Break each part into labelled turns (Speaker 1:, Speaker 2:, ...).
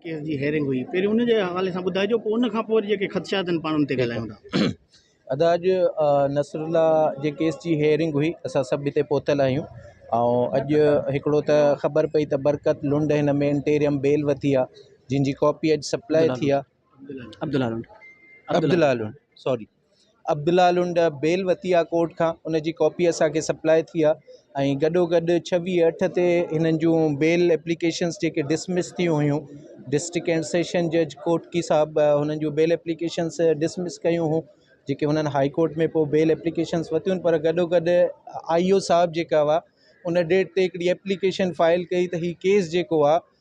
Speaker 1: Case جي hearing هئي پهرين ان جي حوالي سان ٻڌائجو پوء ان کانپوء وري جيڪي خدشات آهن پاڻ ان تي ڳالهايون ٿا. ادا اڄ
Speaker 2: نصر الله جي ڪيس جي هيئرنگ هئي اسان سڀ هتي پهتل آهيون ۽ اڄ هڪڙو ته خبر پئي ته برڪت لنڊ هن ۾ انٽيريم بيل وتي آهي جنهن جي ڪاپي اڄ سپلائي ٿي آهي عبدالله لنڊ عبدالله لنڊ سوري عبدالله لنڊ بيل وتيا ڪورٽ کان ان جي ڪاپي اسان کي سپلاء ٿي آ ۽ گڏو گڏ ڇويھ اٺ تي هنن جون بيل ايپليڪيشنس جيڪي ڊسمس ٿيون هيون ڊسٽرڪٽ ڪينٽ سيشن جج ڪوٽڪي صاحب هنن جون بيل ايپليڪيشنس ڊسمس ڪيون هيون جيڪي هنن هاء ڪورٽ ۾ پوء بيل ايپليڪيشنس وتيون پر گڏو گڏ آئي او صاحب جيڪا هئا ان ڊيٽ تي هڪڙي ايپليڪيشن فائل ڪئي ته هي ڪيس جيڪو آ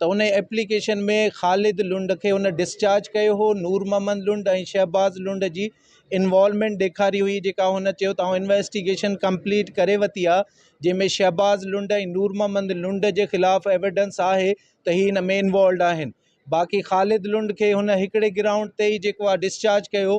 Speaker 2: ته ان ايپليڪيشن ۾ خالد لنڊ کي هن ڊسچارج ڪيو هو نور محمد لنڊ ۽ شهباز لنڊ جي انوالومينٽ ڏيکاري هئي جيڪا هن چيو ته آئون انويسٽيگيشن ڪمپليٽ ڪري وتي آهي جنهن ۾ شهباز لنڊ ۽ نور محمد لنڊ جي خلاف ايويڊنس آهي ته هي ان ۾ انوالوڊ آهن باقي خالد لنڊ کي هن هڪڙي گرائونڊ تي ئي جيڪو آهي ڊسچارج ڪيو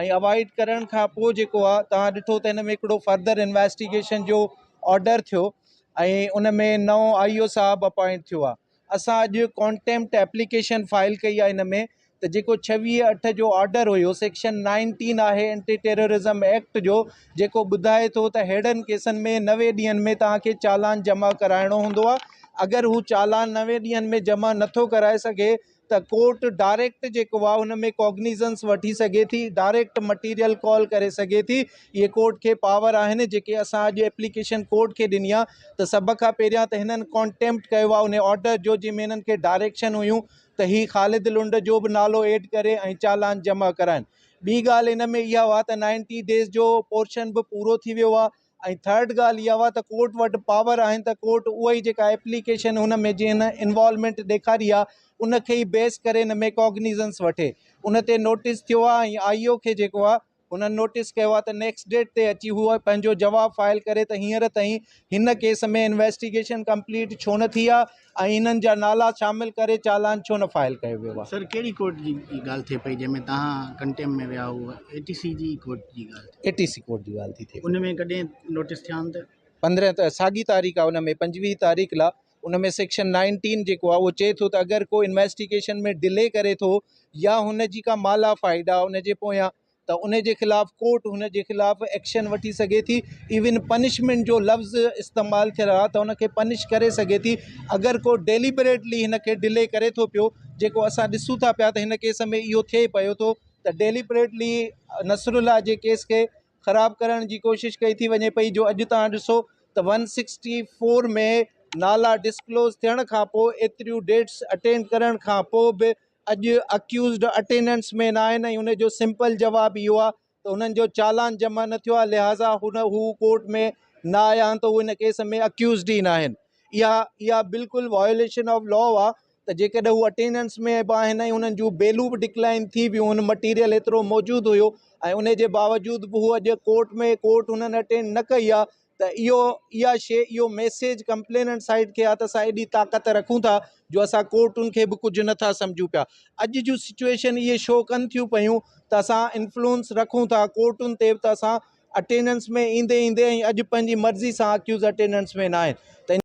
Speaker 2: ۽ اوائڊ ڪرڻ کان پوء جيڪو آ توهان ڏٺو ته هن ۾ هڪڙو فردر انويسٽيگيشن جو آرڊر ٿيو ۽ ان ۾ نئون آئي او صاحب اپوائنٽ ٿيو آ اسان اڄ ڪانٽيمپٽ ايپليڪيشن فائل ڪئي آ ان ۾ ته جيڪو ڇويهه اٺ جو آرڊر هيو سيڪشن نائنٽين آهي اينٽي ٽيررزم ايڪٽ جو جيڪو ٻڌائي ٿو ته ههڙن ڪيسن ۾ نوي ڏينهن ۾ توهان کي چالان جمع ڪرائڻو هوندو آ اگر هو چالان نوي ڏينهن ۾ جمع نٿو ڪرائي سگهي ته ڪورٽ ڊائريڪٽ جيڪو آهي ان ۾ ڪاگنيزنس وٺي سگهي ٿي ڊائريڪٽ مٽيريل ڪال ڪري سگهي ٿي اهي ڪورٽ کي پاور آهن جيڪي اسان اڄ ايپليڪيشن ڪورٽ کي ڏني آهي ته سڀ کان پهريان ته هنن ڪانٽيمپٽ ڪيو آهي ان آرڊر جو جنهن ۾ هنن کي ڊائريڪشن هيون ته هي خالد لنڊ جو به نالو ايڊ ڪري ۽ چالان جمع ڪرائن ٻي ڳالهه ان ۾ اها هئا ته نائنٽي ڊيز جو پورشن به پورو ٿي ويو آهي ۽ ٿرڊ ڳالهه اها هئا ته ڪورٽ وٽ پاور آهن ته ڪورٽ اها ئي جيڪا ايپليڪيشن هن ۾ جنهن انوالومينٽ ڏيکاري آهي ان کي ئي بيس ڪري هن ۾ ڪاگنيزنس وٺي ان تي نوٽيس ٿيو آهي ۽ آئي او کي جيڪو آهي هنن نوٽيس ڪيو آهي ته نيڪسٽ ڊيٽ تي اچي هو پنهنجو جواب فائل ڪري ته هينئر تائين هن ڪيس ۾ انويسٽيگيشن ڪمپليٽ ڇو نه ٿي آهي ۽ انهن جا نالا شامل ڪري چالان ڇو نه فائل ڪيو ويو آهي. سر ڪهڙي ڪورٽ
Speaker 1: جي ڳالهه ٿئي پئي جنهن ۾ توهان ڪنٽيم ۾ ويا هئو اي ٽي سي جي ڪورٽ جي ڳالهه ٿئي. اي ٽي سي ڪورٽ جي ڳالهه ٿي
Speaker 2: ٿئي. ان ۾ ڪڏهن
Speaker 1: نوٽس ٿيا آهن ته. پندرهن ته ساڳي
Speaker 2: تاريخ آهي ان ۾ پنجويهه تاريخ لا ان ۾ سيڪشن نائنٽين جيڪو آهي اهو چئي ٿو ته اگر ڪو انويسٽيگيشن ۾ ڊلي ڪري ٿو يا هن جي ڪا مالا فائيڊا ان جي پويان ته ان جي خلاف ڪورٽ هن جي خلاف ايڪشن وٺي سگهي ٿي ايون پنشمينٽ جو لفظ استعمال ٿيل آهي ته ان کي پنش ڪري سگهي ٿي اگر ڪو ڊيليبريٽلي هن کي ڊلي ڪري ٿو پيو جيڪو اسان ڏسون ٿا پيا ته هن ڪيس ۾ اهو ٿئي پيو ٿو ته ڊيليبريٽلي نصر الله جي ڪيس کي خراب ڪرڻ جي ڪوشش ڪئي ٿي وڃي پئي جو اڄ تان ڏسو ته ون سڪسٽي فور ۾ نالا ڊسڪلوز ٿيڻ کان پوء ايتريون ڊيٽس اٽينڊ ڪرڻ کان پوء به اڄ اڪيوزڊ اٽينڊنٽس ۾ ناهن ۽ ان جو سمپل جواب اهو آهي ته هنن جو چالان جمع نه ٿيو آهي لهٰذا هن هو ڪورٽ ۾ نه آيا آهن ته هو ان ڪيس ۾ اڪيوزڊ ئي ناهن اها اها بلڪل وايوليشن آف لا آهي ته جيڪڏهن هو اٽينڊنس ۾ به آهن ۽ انهن جون بيلون به ڊڪلائن ٿي ويون هن مٽيريل ايترو موجود هيو ۽ ان جي باوجود به هو اڄ ڪورٽ ۾ ڪورٽ هنن اٽينڊ نه ڪئي آهي ته اهو اها شي اهو ميسيج ڪمپليننٽ سائيڊ کي آهي ته اسان ايڏي طاقت رکون ٿا جو اسان ڪورٽن کي به ڪجهه نٿا سمجهون پيا اڄ جون سچويشن اهي شو ڪن ٿيون پيون ته اسان انفلوئنس رکون ٿا ڪورٽن تي به ته اسان اٽينڊنس ۾ ايندي ايندي ۽ اڄ پنهنجي مرضي سان اڪيوز اٽينڊنس ۾ نه آهن ته ان